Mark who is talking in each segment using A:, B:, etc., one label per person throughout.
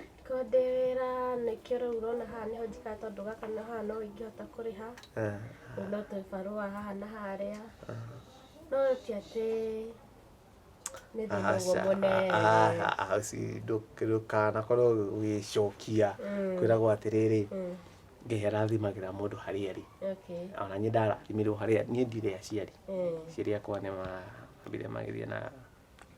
A: Angĩkorwo ndĩ wĩra nĩkĩo rĩu ũrona haha nĩho njikaraga tondũ gaka na haha no ingĩhota kũrĩha, Eh, rĩu no tũbarũa haha na harĩa, no ti atĩ nĩ thĩna ũguo aca, mũnene. ah, ah, ũci- ndũ- ndũkanakorwo ũgĩcokia Mm. kwĩragwo atĩrĩrĩ Mm, ngai arathimagĩra mũndũ harĩa arĩ okay, ona niĩ ndarathimirwo harĩa niĩ ndirĩ aciari eh. aciari akwa nĩ mambire magĩthiĩ na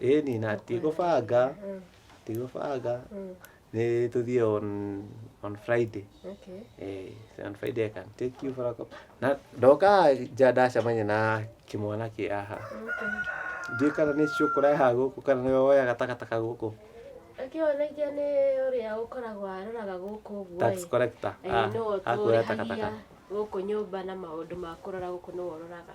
A: ĩni na tigũbanga tigũbanga nĩ tũthiĩ on on friday eh, on friday i can take you for a cup na ndoka nja ndacemania na kĩmwana kĩ aha ndiĩ kana nĩ cio kũreha gũkũ kana nĩ woya gatakataka gũkũ akĩonagia nĩ ũrĩa ũkoragwo aroraga gũkũ ũguo tax collector ah, akuoya takataka gũkũ nyũmba na maũndũ ma kũrora gũkũ nĩ wororaga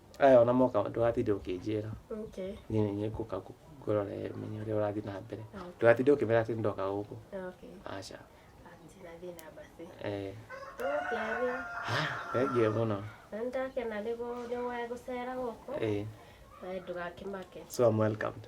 A: Aya ona moka ndũgatinde ũkĩnjĩra Okay. niĩ nĩ ngũka ngũ- ngũrore menye ũrĩa ũrathiĩ na mbere Okay. ndũgatinde ũkĩmera atĩ ndoka gũkũ Okay. aca Atina thĩna basi. eh, Tũgũkĩaria. thengiũ mũno Na nĩndakena nĩguo nĩwe gũcera gũkũ. eh, Nawe ndũgakĩmake. so I'm welcomed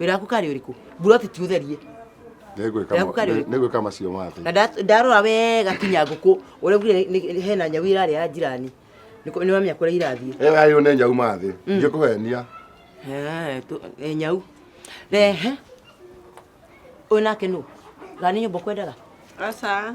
A: wĩra waku karĩ ũrĩkũ mburoti ti ũtherie Nĩngwĩka Yaku mo- karĩ ũrĩkũ? nĩngwĩka macio na mothe nda- ndarora wega kinya ngũkũ ũrĩa uge hena nyau irarĩa ya njirani nĩ wamenya kũrĩa irathiĩ ĩyo yayũ nĩ nyau mathĩ ingĩkũhenia Eh, tu- eh, nyau rehe ũyũ nake nũ gani nyũmba kwendaga Aca.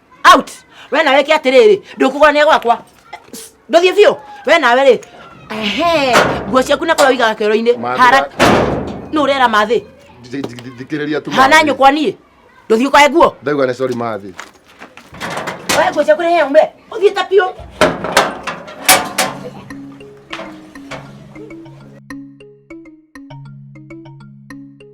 A: out we nawe ke atiriri ndukugwa ne gwakwa nduthie biu we nawe ri ehe nguo ciaku na kuria wigaga kero-ini Mathira- hara nu rera mathi thikĩrĩria tu hana nyukwa nie nduthie ukae nguo ndauga nĩ sorry mathi we nguo ciaku rehe umbe uthie ta biu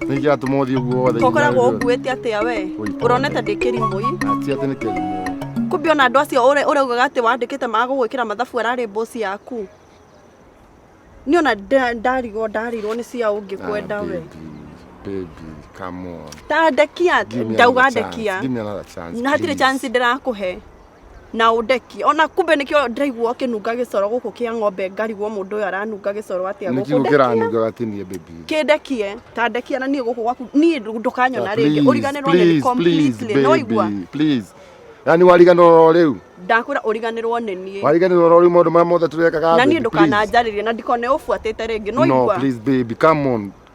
A: nä ingä atå må thiä å guo wothe tokoragwo å nguä te atä a we Oi, å ronete ndä kä rimå ti atä nä kä rimå kumbe ona andå acio ũrĩa- ũrĩa ugaga atĩ wandĩkĩte te maga gũgwĩkĩra mathabu ararĩ mboci yaku nĩ ona nda- ndarigwo ndarirwo nĩ cia ũngĩ kwenda we tandekia ndauga ndekia na hatirĩ chance ndĩrakũhe na ũndeki ona kumbe nĩkĩo ndĩraigua ũkĩnunga gĩcoro gũkũ kĩa ng'ombe ngarigwo mũndũ ũyũ aranunga gĩcoro atĩa nä gũkũ kiugo kä ndekie ranunga gatinie baby kĩndekie ta ndekie na niĩ gũkũ gwaku niĩ ndũ- ndũkanyona rĩngĩ Please, ũriganĩrwo nĩ please, completely please, nĩwaigua baby, please. na nä wariganä rwo rä u ndakwĩra ũriganĩrwo nĩ niĩ wariganä rwo rä u maå ndå marä a mothe tå rekaga na niĩ ndũkananjarĩrie na ndikone ũbuatĩte rĩngĩ nĩwaigua no please baby come on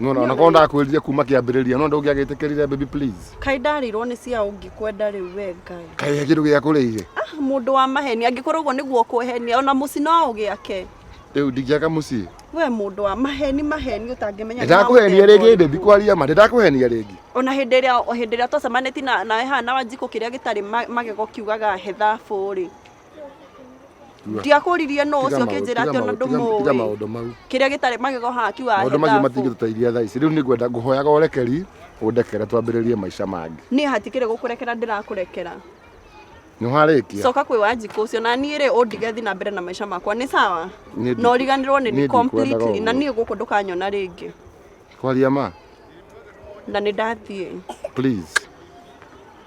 A: nona ona korwo ndakwĩrire kuma kĩambĩrĩria no ndũngĩagĩtĩkĩrire baby please kai ndarirwo nĩ cia ũngĩkwenda rĩu we ngai kaĩ kĩndũ gĩakũrĩire ah, mũndũ wa maheni angĩkorwo ũguo nĩguo kwehenia ona mũci no ũgĩake rĩu ndingĩaka mũciĩ we mũndũ wa maheni maheni ũtangĩmenya ndakũhenia rĩngĩ ndĩ ndikwaria ma ndakũhenia rĩngĩ ona hĩndĩ ĩrĩa hĩndĩ ĩrĩa twacemanĩtie na nawe haha na wanjikũ kĩrĩa gĩtarĩ magego kiugaga he thabũ rĩ ndiakũririe no ũcio kĩnjĩra atĩ ona ndũmũĩ maũndũ mau kĩrĩa gĩtarĩ magego haha kiuga maũndũ macio matingĩtũteithia thaa ici rĩu nĩ ngwenda ngũhoyaga ũrekeri ũndekere twambĩrĩrie maica mangĩ niĩ hatikĩrĩ gũkũrekera ndĩrakũrekera nĩ warĩkia coka kwĩ wanjikũ ũcio na niĩ rĩ ũndige thiĩ na mbere na maica makwa nĩ sawa na ũriganĩrwo nĩ niĩ completely na niĩ gũkũ ndũkanyona rĩngĩ kwaria ma na nĩ ndathiĩ please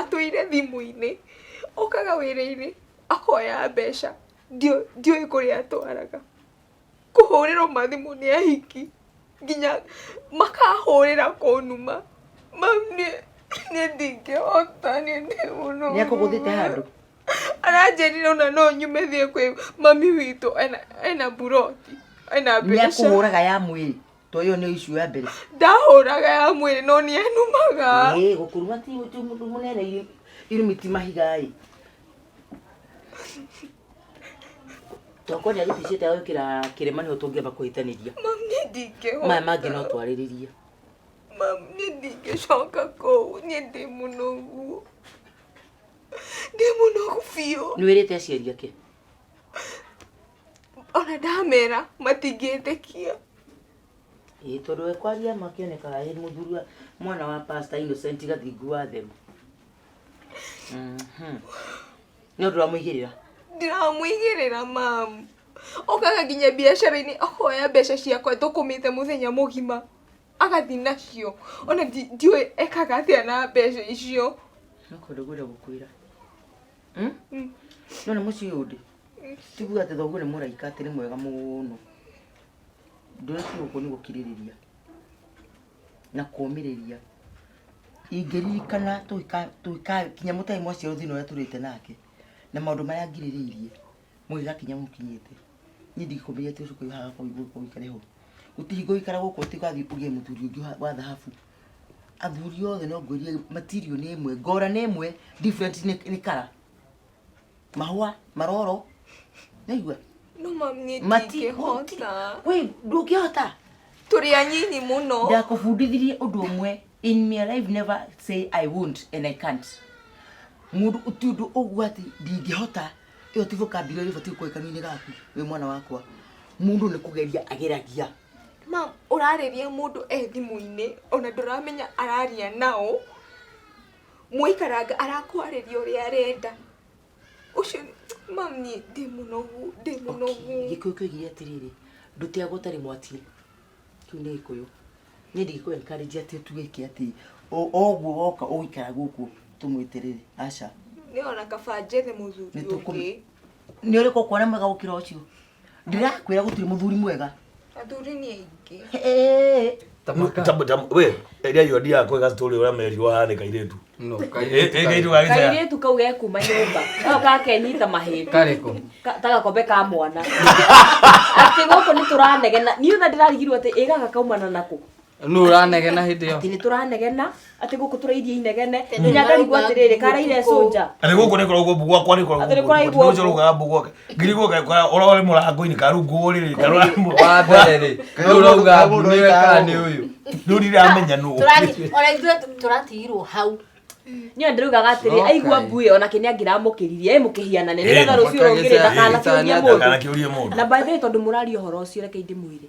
A: atũire thimũ-inĩ, okaga wĩra-inĩ akoya mbeca, ndiũĩ kũrĩa atwaraga. Kũhũrĩrwo mathimũ nĩ ahiki, nginya makahũrĩra kũnuma, mau niĩ ndingĩhota niĩ ndĩ mũrũrũ. Nĩ akũgũthĩte handũ? Aranjĩrire ona no nyume thiĩ kwĩ mami witũ ena mburoti, ena mbeca. Nĩ akũhũraga ya mwĩrĩ? to ĩyo nĩ issue ya mbere ndahũraga ya mwĩrĩ no nĩ enumaga Ĩĩ, gũkũruma ti ti mũndũ mũnene iru- irumi ti mahigaĩ tokonya gĩticiĩte gũkĩra kĩrĩma nĩho tũngĩamba kũhĩtanĩria mam nĩ ndingĩhota maya mangĩ no twarĩrĩrie mam nĩ ndingĩcoka kũu nĩ ndĩ mũnogu ndĩ mũnogu biũ nĩ wĩrĩte aciari ake ona ndamera matingĩtĩkia. Ĩĩ tondũ we kwaria ma akĩonekaga ĩ mũthuri wa mwana wa pastor Innocent Gathingu wa Thema. Mhm. Nĩ ũndũ ũramũigĩrĩra. ndiramũigĩrĩra mamu okaga nginya biacara-inĩ ahoya mbeca ciakwa thũkũmĩte mũthenya mũgima agathiĩ nacio ona ndi- ndiũĩ ekaga atĩa na mbeca icio Nĩ kũndũ ngwenda gũkwĩra. Hmm? Mm. none mũciĩ ũyũ ndĩ tiguo atĩ thoguo nĩ mũraika atĩ nĩ mwega mũno ndũrĩtie gũkũ nĩ gũkirĩrĩria na kũmĩrĩria ingĩririkana tũgĩka- tũgĩkakinya mũtarĩ mwaciarwo thĩna ũrĩa tũrĩte nake na maũndũ marĩa ngirĩrĩirie mũgĩgakinya mũkinyĩte niĩ ndingĩkũmĩria tũcukũ hagakorwo igũikare hau gũtihingo ikara gũkũ ũtigathiĩ ũgĩe mũthuri ũngĩ wa- wa thahabu athuri othe no ngwĩrie material nĩ ĩmwe ngora nĩ ĩmwe different nĩ nĩ kara mahũa maroro naigua no mam niĩ Mati- ndingĩhota wĩ ndũngĩhota tũrĩ anyinyi mũno ndakũbundithirie ũndũ ũmwe in my life never say i won't and i can't mũndũ ti ũndũ ũguo atĩ ndingĩhota ĩyo ti vocabulary ĩbatiĩ gũkorwo kanua-inĩ gaku wĩ mwana wakwa mũndũ nĩ kũgeria ageragia Ma ũrarĩria mũndũ e thimũ-inĩ ona ndũramenya araria na ũ, mwaikaranga arakwarĩria ũrĩa arenda. Ũcio ma niĩ ndĩ mũnogu, ndĩ mũnogu. Gĩkũyũ kĩoigire atĩrĩrĩ, ndũteagwo ũtarĩ mwati-ĩ, kĩu nĩ gĩkũyũ. Niĩ ndingĩkũ encourage atĩ ũtuĩke atĩ o o ũguo woka ũgũikara gũkũ tũmwĩterere, aca. Niĩ ona kaba njethe mũthuri ũngĩ. Nĩtũkũ, nĩũrĩkũ ũkuona mwega gũkĩra ũcio? ndĩrakwĩra gũtirĩ mũthuri mwega athuri nĩ aingĩ Hey. we eria yo ndia kwega story ura meri wa hane kairetu No, e kairĩtu e kairetu karĩ- gagitaya kairĩtu kau ge kuma nyũmba kau gakenyita mahĩndĩ karĩkũ Ka- ta gakombe ka mwana atä gå kå nä tå ranegena niä ona ndä rarigirwo atä ä gaka kaumana nakå nũ ũranegena hĩndĩ ĩyo nĩ tũranegena atĩ gũkũ tũrairie inegene nginya ngarigwo atĩrĩrĩ karaire cũnja atä gå kå nä koragwo mbå gwakwa nä Atĩ nĩ kũraigwo koragwo rå gaga mbå gwake ngirigwo gakora å rore må rango-inä karunguo rä rä karora wa mbere rä nũ ũrauga mbu nĩwe kana nĩ ũyũ rä u ndiramenya nä Tũrati- ona ithuĩ tũ- tũratigirwo hau niyo ndĩraugaga atĩrĩ Okay. aigua mbuĩ ona kĩnĩ angĩramũkĩririe ĩ mũkĩhianane nĩgetha rũciũ rũngĩrĩ ndakanakiũrie mũndå ndakanakä å rie må ndå na by the way tondå må raria å horo å cio rekei ndä mwä re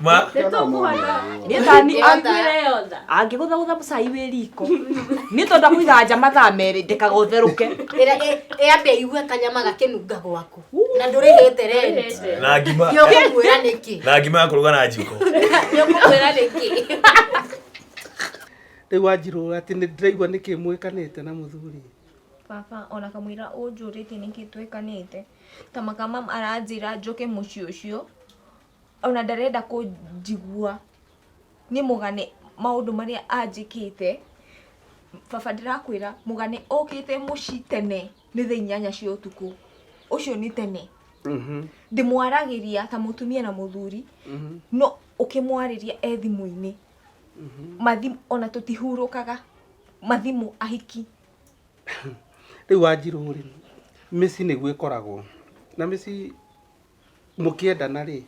A: Ma. Nĩ tũkũhota. Niĩ ta ni Angĩgũtha yotha. angĩgũthagũtha mũcai wĩ riko niĩ tonda kũiga nja mathaa merĩ ndekaga ũtherũke Ĩra- ĩ- ĩ ambe aigue kanyama gakĩnunga gwaku na ndũrĩhĩte rent Na ngima. Nĩ ũkũmwĩra nĩkĩ Na ngima ya kũruga na njiko. nĩ ũkũmwĩra nĩkĩ rä u anjirå atä nä ndä raigua nä kä mwä kanä te na må thuri baba ona kamwira unjurite niki twekanite ta makamam aranjira njoke mucii ucio ona ndarenda kũnjigua niĩ mũgane maũndũ marĩa anjĩkĩte, baba ndĩrakwĩra mũgane okĩte mũci tene nĩ thaa inyanya cia ũtukũ, ũcio nĩ tene, ndĩmwaragĩria ta mũtumia na mũthuri, no ũkĩmwarĩria e thimũ-inĩ, mathimũ ona tũtihurũkaga, mathimũ ahiki. Rĩu wanjirũ rĩ, mĩci nĩguo ĩkoragwo na mĩci. mũkĩendana rĩ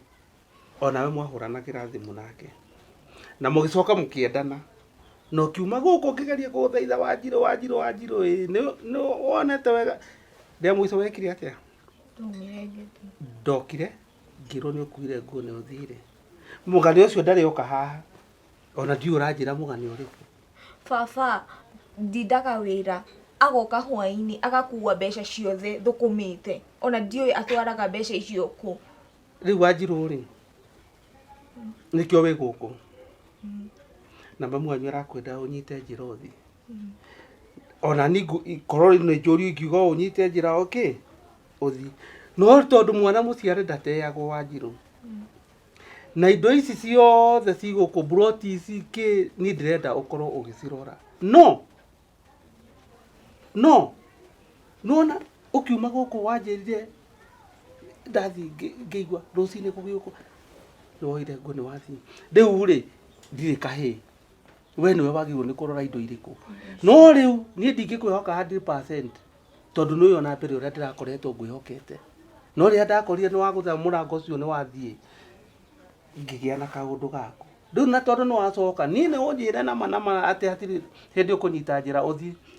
A: onawe mwahũranagĩra thimũ nake na mũgĩcoka mũkĩendana na ũkiuma gũkũ ũkĩgeria kũgũthaitha wanjirũ wanjirũ wanjirũ ĩ nĩ- nĩ wonete wega rĩa mũico wekire atĩa ndokire ngĩrwo nĩ ũkuire nguo nĩ ũthire mũgani ũcio ndarĩ oka haha ona ndiũ ũranjĩra mũgani ũrĩkũ baba ndindaga wĩra, agoka hwainĩ agakua mbeca ciothe thũkũmĩte, ona ndiũĩ atwaraga mbeca icio kũ. Rĩu Wanjirũ rĩ, nĩkĩo wĩ gũkũ na mamu wanyu arakwenda ũnyite njĩra ũthiĩ. Ona niĩ korwo nĩ njũria ingiuga ũnyite njĩra ũkĩ, ũthiĩ. No tondũ mwana mũciare ndateagwo Wanjirũ, na indo ici ciothe cigũkũ buroti ici kĩ niĩ ndĩrenda ũkorwo ũgĩcirora no no nona ũkiuma gũkũ wanjĩrire ndathiĩ ngĩ- ngĩigua rũcinĩ gũgĩũkwo nĩwoire nguo nĩwathiĩ rĩu rĩ ndirĩ kahĩĩ we nĩwe wagĩrĩirwo nĩ kũrora indo irĩkũ no rĩu niĩ ndingĩkwĩhoka 100% tondũ nĩ ũyona mbere ũrĩa ndĩrakoretwo ngwĩhokete no rĩrĩa ndakorire nĩ wagũtha mũrango ũcio nĩ wathiĩ ngĩgĩa na kaũndũ gaku rĩu na tondũ nĩ wacoka niĩ nĩ ũnjĩre nama nama atĩ hatirĩ hĩndĩ ũkũnyita njĩra ũthiĩ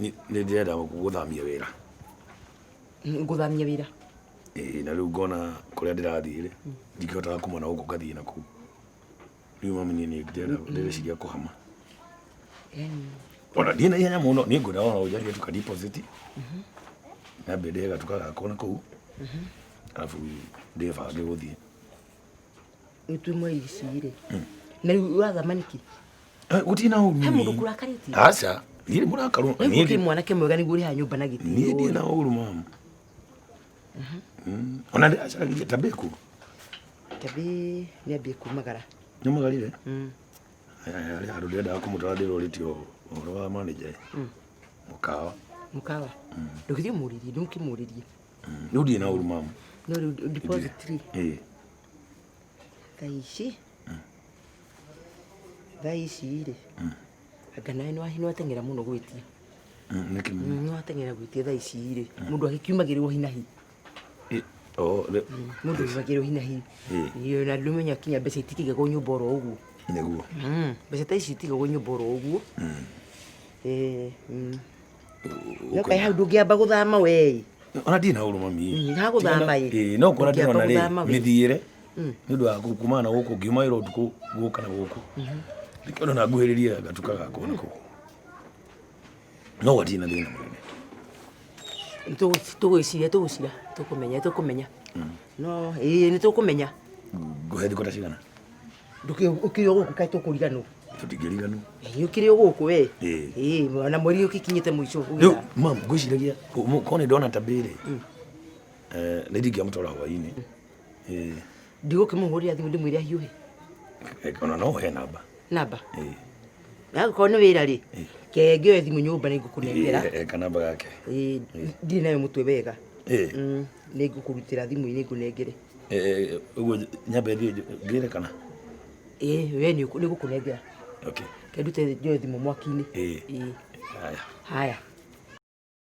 A: nĩ ndĩrenda gũthamia wĩra ngũthamia wĩra ĩĩ na rĩu ngona kũrĩa ndĩrathiĩ rĩ ndingĩhotaga kuma na gũkũ ngathiĩ na kũu rĩu mami niĩ nĩ ndĩrenda ndĩreciria kũhama Yaani, ona ndiĩ na ihenya mũno nĩ ngwenda ona ũnjarie tuka deposit nyambie ndĩhe gatuka gakwa na kũu arabu ndĩbange gũthiĩ gĩtumo ici-rĩ na rĩu wa thamaniki Eh, gũtirĩ na ũru he mũndũ mami. kũrakarĩtie aca ndirĩ mũrakaru rĩu niĩ gũtirĩ ndi- mwanake mwega nĩguo ũrĩha nyũmba na niĩ ndirĩ gĩtĩo na ũru mama Mm. ona ndĩ acaragia ta mbĩku tabi nĩambie kumagara nyamagarire Mm. arĩ handũ ndĩrendaga kũmũtara ndĩrorĩtie ũhoro wa manager mũkawa mũkawa ndũgĩthiĩ mũrĩrie ndũkĩmũrĩrie Mm, rĩu ndirĩ na ũru mama no rĩu deposit rĩ Eh, thaa ici thaa ici rĩ anga nawe nĩwa- nĩwateng'era mũno gwĩtia mm, nĩkĩ mama? Mm, nĩwateng'era gwĩtia thaa ici rĩ mũndũ agĩkiumagĩrĩrwo hinahi Eh, oh, rĩ- mũndũ agĩkiumagĩrĩrwo hinahi Eh. Iyo, na ndũmenya kinya mbeca itikĩigagwo nyũmba oro ũguo nĩguo Mm, mbeca ta ici itigagwo nyũmba oro ũguo Eh, mm. Nĩ ũkaĩ hau ndũngĩamba gũthama wee. Ona ndirĩ na ũrũ mami. Mm, ha gũthama ĩ. Ĩĩ no kuona ndĩrona Ndũngĩamba gũthama rĩ wĩ. mĩthiĩre Mm. nĩ ũndũ wa kumana na gũkũ ngiuma wĩra ũtukũ gũka na gũkũ. Ndĩkĩona na nguhĩrĩrie gatuka gakwa na kũu. No gatirĩ na thĩna mũnene. Tũgwĩciria tũgũcira tũkũmenya tũkũmenya. No ĩĩ nĩ tũkũmenya. Ngũhe thikũ ta cigana? ndũkĩrĩ o gũkũ kaĩ tũkũriganwo tũtingĩriganwo Ĩ, ũkĩrĩ o gũkũ we Ĩ. Ĩ, na mweri ũkĩkinyĩte mũico rĩu ũgĩthama. mam ngwĩciragia ko nĩ ndona tabirĩ nĩ ndingĩamũtwara hwainĩ Ĩ, ndigũkĩmũhũrĩra thimũ ndĩmwĩre ahiũhe ona no ũhe namba namba Ĩ. Angĩkorwo nĩ wĩra rĩ, ke ngĩoe thimũ nyũmba nĩ ngũkũnengera. Eh, kanamba gake Eh, ndirĩ nayo mũtwe wega Eh. Mm, nĩ ngũkũrutĩra thimũ-inĩ ngũnengere Eh, ũguo nyambe thiĩ ngĩre kana Eh, we nĩ ũkũ- nĩ ngũkũnengera okay kendute njoe thimũ mwaki-inĩ Eh. Eh, haya haya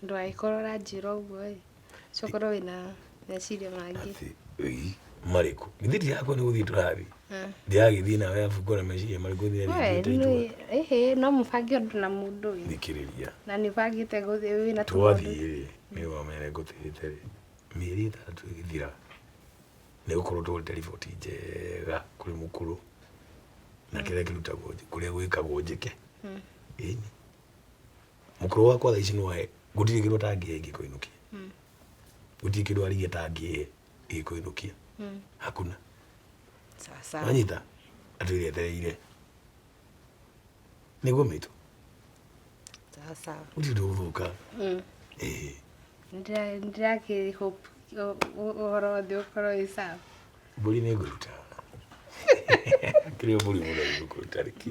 A: Ũndũ angĩkorwo ũranjĩra ũguo ĩ, ũcio ũkorwo wĩna meciria mangĩ. Ĩĩ, marĩkũ? Githĩ ndirakwĩra nĩ gũthiĩ tũrathiĩ? Ndiragĩthiĩ nawe arabu ngona meciria marĩkũ nginya We, ningĩte nĩ- itua. ĩhĩ, no mũbange ũndũ na mũndũ ĩ. Thikĩrĩria. Na nĩ ũbangĩte gũthiĩ wĩna tũmaũndũ. Twathiĩ-rĩ, nĩ wamenya ngũtĩrĩte-rĩ, mĩeri ĩtandatũ ĩgĩthira, nĩ gũkorwo tũgũrĩte riboti njega kũrĩ mũkũrũ, na kĩrĩa kĩrutagwo, kũrĩa gwĩkagwo njĩke. Ĩni. mũkũrũ wakwa thaa ici no ahe gũtirĩ kĩndũ atangĩhe ingĩkũinũkia gũtirĩ kĩndũ arigia atangĩhe ingĩkũinũkia hakuna sawa sawa wanyita atwĩre etereire nĩguo mĩtũ sawa sawa gũtirĩ ũndũ ũgũthũka Ĩĩ. Nĩndĩra- nĩndĩrakĩ hope ũ- ũ- ũhoro wothe ũkorwo wĩ sawa mbũri nĩ ngũruta kĩrĩa mbũri mũno nĩ ngũruta rĩki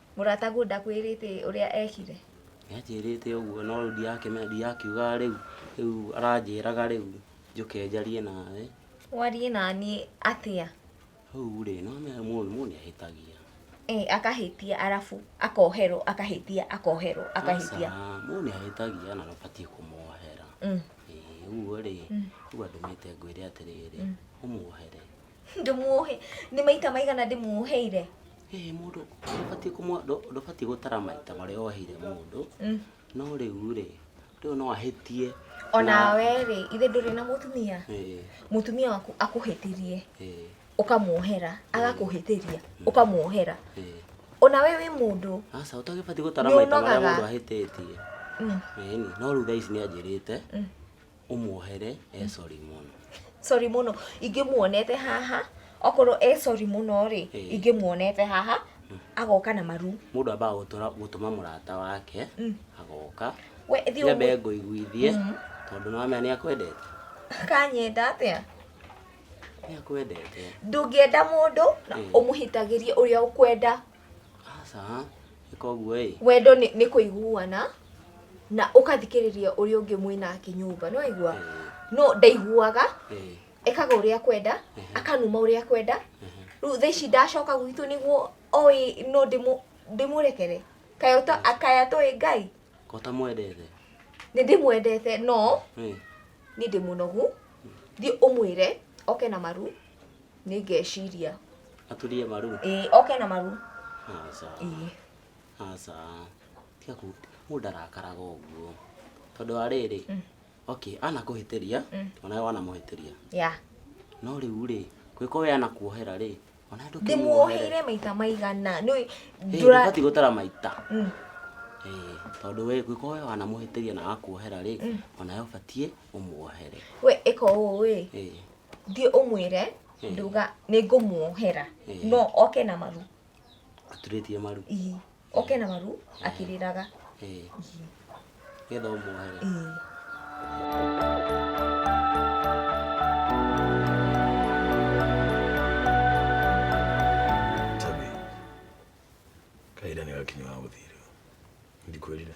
A: Mũrataguo ndakwĩrĩte ũrĩa ekire? Nĩ anjĩrĩte ũguo no rĩu ndirakĩmenya ndirakiugaga rĩu rĩu aranjĩraga rĩu njũke njarie nawe. Warie na niĩ atĩa? Rĩu rĩ nĩwamenya mũndũ mũndũ nĩ ahĩtagia. Ĩ akahĩtia arabu akoherwo akahĩtia akoherwo akahĩtia. Aca mũndũ nĩ ahĩtagia na ndũbatiĩ kũmohera. Ĩ ũguo rĩ rĩu andũmĩte ngwĩre atĩrĩrĩ ũmohere. Ndĩmuohe, nĩ maita maigana ndĩmuoheire? Ĩĩ mũndũ ndũbatiĩ kũmwa- ndũ- ndũbatiĩ gũtara maita marĩa woheire mũndũ no rĩu rĩ rĩu no ahĩtie Onawe rĩ, ithe ndũrĩ na mũtumia? Ĩĩ, Mũtumia waku akũhĩtĩrie, ĩĩ, ũkamuohera, agakũhĩtĩria, ũkamuohera. ĩĩ. Onawe wĩ mũndũ. aca ũtagĩbatiĩ gũtara maita marĩa Nĩũnogaga. mũndũ ahĩtĩtie Mm. ĩni no rĩu thaa ici nĩ anjĩrĩte ũmuohere e sorry mũno sorry mũno ingĩmuonete haha okorwo e sorry mũno rĩ Eh. ingĩmuonete haha agoka na maru mũndũ ambaga gũtũra- gũtũma mũrata wake Mm. agoka we thiĩ nyambe ũmwĩ- ngũiguithie Mhm. tondũ nĩwamenya nĩ akwendete kanyenda atĩa nĩ akwendete ndũngĩenda mũndũ na Eh. ũmũhĩtagĩrie ũrĩa ũkwenda aca ĩka ũguo ĩ wendo nĩ nĩ kũiguana na ũkathikĩrĩria ũrĩa ũngĩ mwĩ nake nyũmba nĩ waigua no ndaiguaga ĩ ekaga ũrĩa kwenda akanuma ũrĩa kwenda rĩu thaa ici ndacoka gwitũ nĩguo oĩ no ndĩmũ- ndĩmũrekere kaya ũta- akaya toĩ ngai ko ũtamwendete nĩ ndĩmwendete no ĩ nĩ ndĩ mũnogu thiĩ ũmwĩre oke na maru nĩ ngeciria aturie maru ĩĩ oke na maru aca ĩĩ aca tiga kũ- mũndũ ndarakaraga ũguo tondũ wa rĩrĩ okay anakũhĩtĩria onawe wanamũhĩtĩria ya no rĩu rĩ gwĩko we anakuohera rĩ onawe ndĩmuoheire maita maigana nĩ ndũra ndũbati gũtara maita Mm. Ĩĩ, tondũ we gwĩko we wanamũhĩtĩria na akuohera rĩ onawe ũbatiĩ ũmuohere we ĩka ũũ ĩ Ĩĩ. thiĩ ũmwĩre Ĩĩ. nduga nĩ ngũmuohera Ĩĩ. no oke na maru aturĩtie maru Ii. oke na maru akĩrĩraga Ĩĩ. Ii. nĩgetha ũmuohere Ii. Tabi, kahinda nĩ gakinya wa gũthiĩ rĩu. Ndikwĩrire.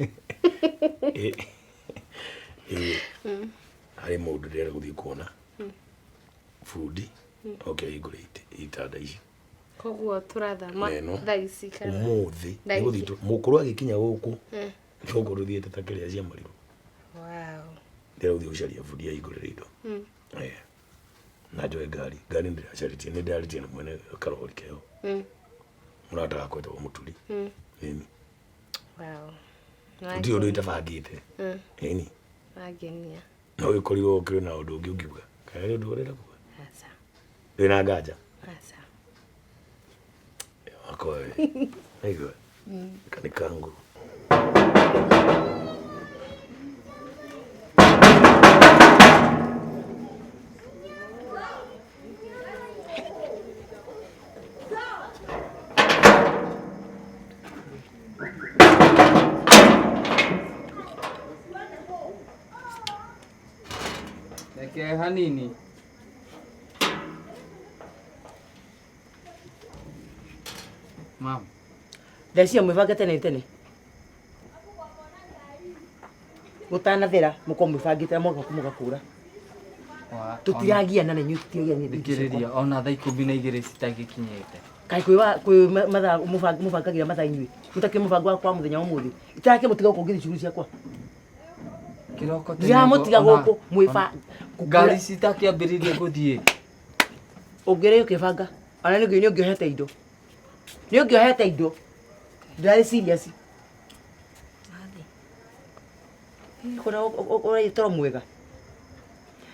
A: Ĩ- ĩ, harĩ mũndũ ndĩrenda gũthiĩ kuona bundi oke hingũre ite- itanda ici koguo tũrathama Neno. thaa ici kana ũmũthĩ Thaa ici. nĩgũthiĩ tũ- mũkũrũ agĩkinya gũkũ Mm. gũkũ tũthiĩte ta kĩrĩa cia marirũ Wow. ndĩrenda gũthiĩ gũcaria bundi ya hingũrĩra indo Mm. Eh. na njoe ngari ngari ndĩracarĩtie nĩ ndarĩtie na mwene karori keo Mm. mũrata wakwa etagwo mũturi Mm. nini ndirĩ ũndũ itabangĩte mm. ĩni angenia no gĩkorirwo kĩrĩ na ũndũ ũngĩ ũngiuga kana nĩ ũndũ ũrenda kuga ndĩ na nganja wakoe aigua mm. kanĩ kangu Reke hanini. Mama, Thaa icio mwĩbange tene tene. gũtanathera mũkorwo mwĩbangĩte na mwagoka mũgakũra Wa- tũtiragia na nenyu tũtiragia ona- thikĩrĩria ona thaa ikũmi na igĩrĩ citangĩkinyĩte kaĩ kwĩ wa- kwĩ ma- mathaa mũbang- mũbangagĩra mathaa inyuĩ mũtakĩrĩ mũbango wa kwa mũthenya wa mũthĩ itarake mũtiga gũkũ ngĩthi cuguri ciakwa kĩroko tene ndiramũtiga ũguo, ona- gũkũ mwĩba ona- ngari citakĩambĩrĩirie gũthiĩ ũngĩrĩ ũkĩbanga ona nĩ ũngĩohete indo nĩ ũngĩohete indo ndarĩ serious ũrarĩ toro mwega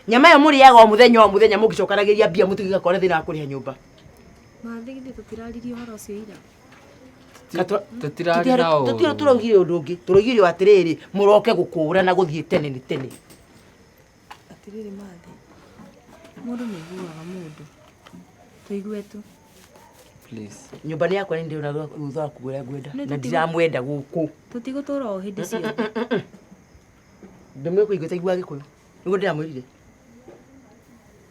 A: nyama ĩyo mũrĩaga o mũthenya o mũthenya mũngĩcokanagĩria mbia mũtigĩga kwana thĩna wa kũrĩha nyũmba Mathĩ githĩ tũtiraririe ũhoro ũcio ira. tũtirarĩ na ũũru. tũtira tũraugire ũndũ ũngĩ tũraugire atĩrĩrĩ mũroke gũkũũra na gũthiĩ tene nĩ tene Atĩrĩrĩ mathe, mũndũ nĩ aiguaga mũndũ. Tũigue tu. Please. Nyũmba nĩ yakwa nĩ ndĩrona thutha waku ũrĩa ngwenda. Nĩ Na tũtigo- ndiramwenda gũkũ. Tũtigũtũra o hĩndĩ ciothe. Ndũmĩkũigua taiguaga gĩkũyũ. Nĩguo ndĩramwĩrire.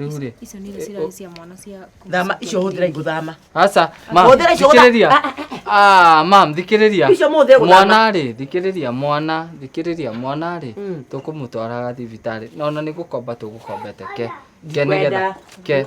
A: Rĩu rĩ. Icio nĩ irĩ cia mwana cia Thama icio hũthĩra igũthama. Aca, mam, Hũthĩra icio gũtha- thikĩrĩria. Ah, Ah, mam, thikĩrĩria. Icio mũhũthĩre gũthama. Mwana rĩ, thikĩrĩria mwana, thikĩrĩria mwana rĩ, tũkũmũtwaraga thibitarĩ. Na ona nĩ gũkomba tũgũkombete ke. Ke nĩgetha. Ndikwenda. Ke.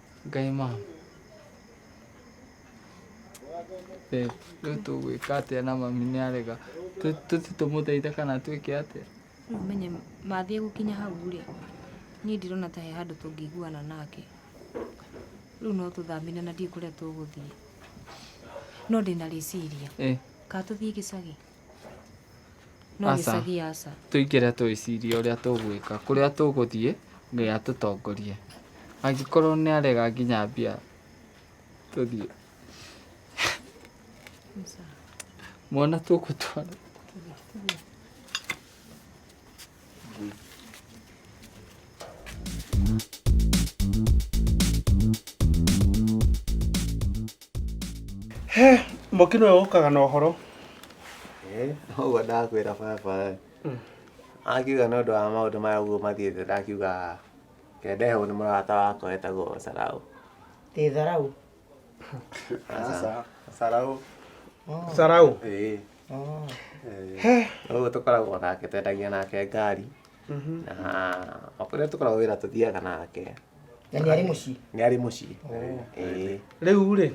A: Ngai mama. Babe rĩu tũgwĩka atĩa na mami nĩ arega tũthi tũmũteithe kana twĩke atĩa Rĩu menye mathiĩ gũkinya hau rĩ niĩ ndirona ta he handũ tũngĩiguana nake rĩu no tũthambine na ndiĩ kũrĩa tũgũthiĩ no ndĩna rĩciria ĩ kaa tũthiĩ gĩcagi No Aca. gĩcagi aca. tũingĩre twĩcirie ũrĩa tũgwĩka kũrĩa tũgũthiĩ ngai atũtongorie angĩkorwo nĩ arega nginya mbia tũthiĩ mwana tũgũtwara He, mũkino ũyũ ũkaga na ũhoro ũguo ndakwĩra baba akiuga nĩ ũndũ wa maũndũ maya ũguo mathiĩte ndakiuga kende hau nĩ mũrata wakwa wetagwo saraũ Ĩ tharau. saraũ saraũ ĩĩ Oh. Eh, rĩu tũkoragwo nake twendagia nake ngari Mhm. na okũrĩa tũkoragwo wĩra tũthiaga nake Na nĩ arĩ mũciĩ. nĩ arĩ mũciĩ Ĩĩ. rĩu rĩ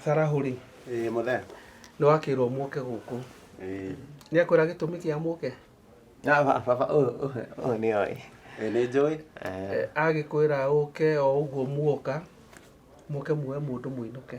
A: sarahũ rĩ Ĩĩ, mũthee nĩ wakĩrwo mũke gũkũ Ĩĩ. nĩ akwĩra gĩtũmi kĩa mũke Na ba- baba ũyũ ũyũ- ũyũ nĩ oĩ Ĩĩ, nĩ njũĩ Eh, agĩkwĩra ũke o ũguo muoka mũke muoe mũndũ mũinũke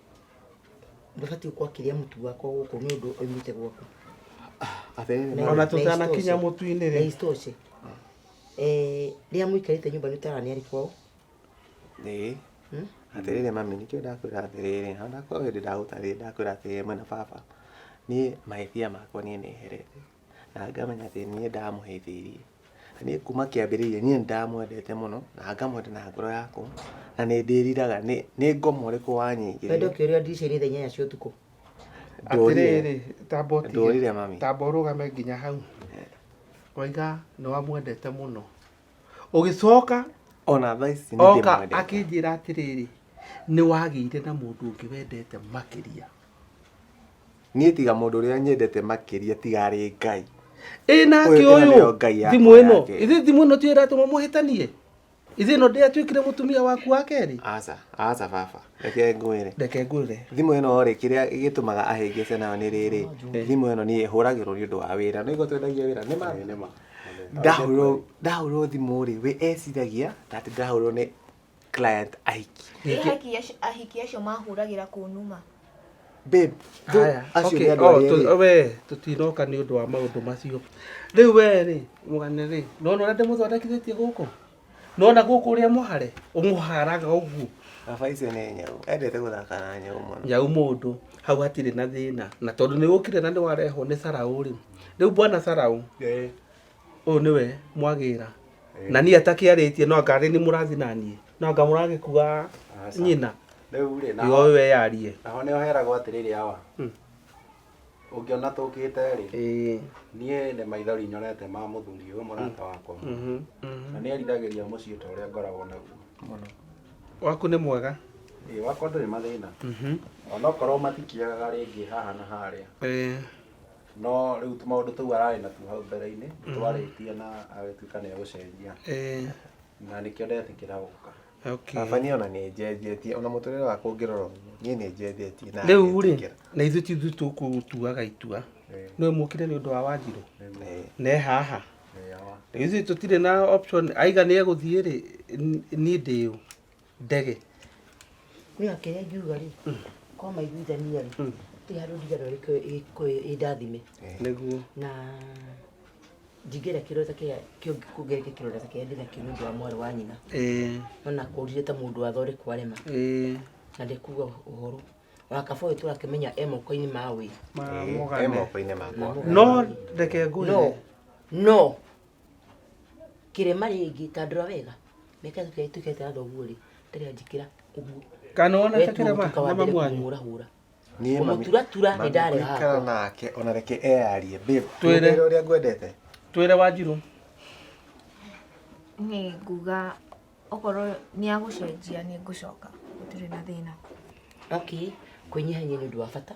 A: ndũbatiĩ gũkorwo akĩrĩa mũtu wakwa gũkũ nĩ ũndũ oimĩte gwaku ona tũtanakinya mũtu-inĩ rĩ isitoshe rĩrĩa mũikarĩte nyũmba nĩ ũtarani arĩ kwao ĩĩ Hmm? atĩrĩrĩ mami nĩkĩo ndakwĩra atĩrĩrĩ ona ndakwĩra hĩndĩ ndagũtarĩrĩ ndakwĩra atĩrĩrĩ mwena baba niĩ mahĩtia makwa niĩ nĩherete na ngamenya atĩ niĩ ndamũhĩtĩirie. Na niĩ kuma kĩambĩrĩria niĩ nĩ ndamwendete mũno, na ngamwenda na ngoro yakwa, na nĩ ndĩriraga nĩ nĩ ngoma ũrĩkũ wanyingĩrĩire. Wendo ũkĩũrĩra ndirica-inĩ thaa inyanya cia ũtukũ. Atĩrĩrĩ, tamba ũtige. Ndũrire mami. Tamba ũrũgame nginya hau. Waiga nĩ wamwendete mũno. Ũgĩcoka, Ona thaa ici nĩ oka ndĩmwendete. akĩnjĩra atĩrĩrĩ, nĩ wagĩire na mũndũ ũngĩ wendete makĩria. Niĩ tiga mũndũ ũrĩa nyendete makĩria tiga arĩ Ngai. Ĩ nake Ũyũ- ĩno ũyũ nĩyo Ngai yakwa thimũ ĩno yake. ithĩ thimũ ĩno tiyo ĩratũma mũhĩtanie ithĩ ĩno ndĩatuĩkire mũtumia waku wa kerĩ Aca, aca baba, reke ngwĩre. reke ngwĩre Thimũ ĩno rĩ, kĩrĩa gĩtũmaga ahĩngĩce nayo nĩ rĩrĩ, thimũ ĩno niĩ hũragĩrwo nĩ ũndũ wa wĩra. No igua twendagia wĩra, nĩ ma? Nĩ ma. Ndahũrwo ndahũrwo thimũ rĩ, we eciragia ta atĩ ndahũrwo nĩ client ahiki Nĩ ahiki aci- ahiki acio mahũragĩra kũnuma babe tho- Aya, acio okay, nĩ andũ oh, arĩa tu- erĩ. we tũtinoka nĩ ũndũ wa maũndũ macio rĩu we rĩ mũgane rĩ nona ũrĩa ndĩmũthondekithĩtie gũkũ nona gũkũ ũrĩa mũhare ũmũharaga ũguo Baba icio nĩ nyau endete gũthaka na nyau mũno nyau mũndũ hau hatirĩ na thĩna na tondũ nĩ ũkire na nĩ warehwo nĩ saraũ rĩ rĩu bwana saraũ ũyũ nĩwe mwagĩra na niĩ atakĩarĩtie no anga nĩ mũrathi na niĩ no anga mũragĩkua nyina rĩu rĩ naho yoĩ we yarie naho nĩ oheragwo atĩrĩrĩ awa Hmm. ũngĩona tũkĩte rĩ Ĩĩ. niĩ nĩ maithori nyonete ma mũthuri ũyũ mũrata wakwa Mhm, mhm. na nĩ eriragĩria mũciĩ ta ũrĩa ngoragwo naguo waku nĩ mwega ĩĩ wakwa ndũrĩ mathĩna Mhm. onokorwo matikĩagaga rĩngĩ haha na harĩa Ĩĩ. no rĩu tũmaũndũ tũu ararĩ natuo hau mbere-inĩ twarĩtie na agĩtuĩka nĩ egũcenjia Eh, na nĩkĩo ndetĩkĩra gũka okay. baba niĩ ona nĩ njenjetie ona mũtũrĩre wakwa ũngĩrora ũguo niĩ nĩ njenjetie na rĩu rĩ ngetĩkĩra. na ithuĩ ti ithuĩ tũkũtuaga itua Eh, nĩwe mũkire nĩ ũndũ wa wanjirũ nĩguo. Eh, ne haha Eh, awa. rĩu ithuĩ tũtirĩ na option aiga nĩ egũthiĩ rĩ n- niĩ ndĩũ ndege niga kĩrĩa ngiuga rĩ kwa maiguithania rĩ ti handũ ndigana ĩ ndathime nĩguo na njingĩra kĩrore ta kĩa kĩongereke kĩrore ta kĩa ndĩna kĩo nĩ ũndũ wa mwarĩ wa nyina ĩĩ ona kũrire ta mũndũ wathore kwarema ĩĩ na ndekuga ũhoro ona kaba ũyũ tũrakĩmenya e moko-inĩ ma ũĩ ma Ĩ, ĩ mũgane moko-inĩ makwa no reke ngwĩre no no kĩrema rĩngĩ tandũra wega reke tũkĩre tũkĩre tena thoguo rĩ tena njĩkĩra ũguo kana ona Wetu takĩra mũtuka wa mama mbere mwanyu kũmũra hũra Niĩ mami- Kũmũturatura nĩ mami ndarĩ haha. gũikara nake ona reke eyarie babe Twĩre. nĩ ũrĩa ngwendete twĩre wanjirũ nĩ nguga okorwo nĩ agũcenjia nĩ ngũcoka gũtirĩ na thĩna okay kwĩnyihanyia nĩ ũndũ wa bata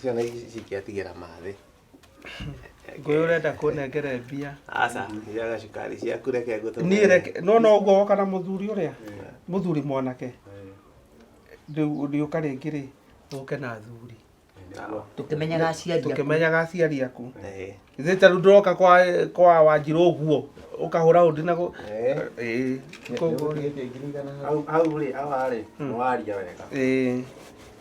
A: ciana ici cingĩatigĩra mathĩ ngũyũ ũrenda kũnengere mbia aca thiaga cukari ciaku reke ngũtũme niĩ reke no no ũguo woka na mũthuri ũrĩa mũthuri mwanake rĩu rĩũka rĩngĩ rĩ ũke na athuri tũkĩmenyaga aciari aku. tũkĩmenyaga aciari aku Eh, ithe ta rĩu ndĩroka kwa kwa wanjirũ ũguo ũkahũra ũndi na gũ- eh. Ĩĩ, koguo rĩ, Hau- hau rĩ awa rĩ nĩwaria wega ĩĩ.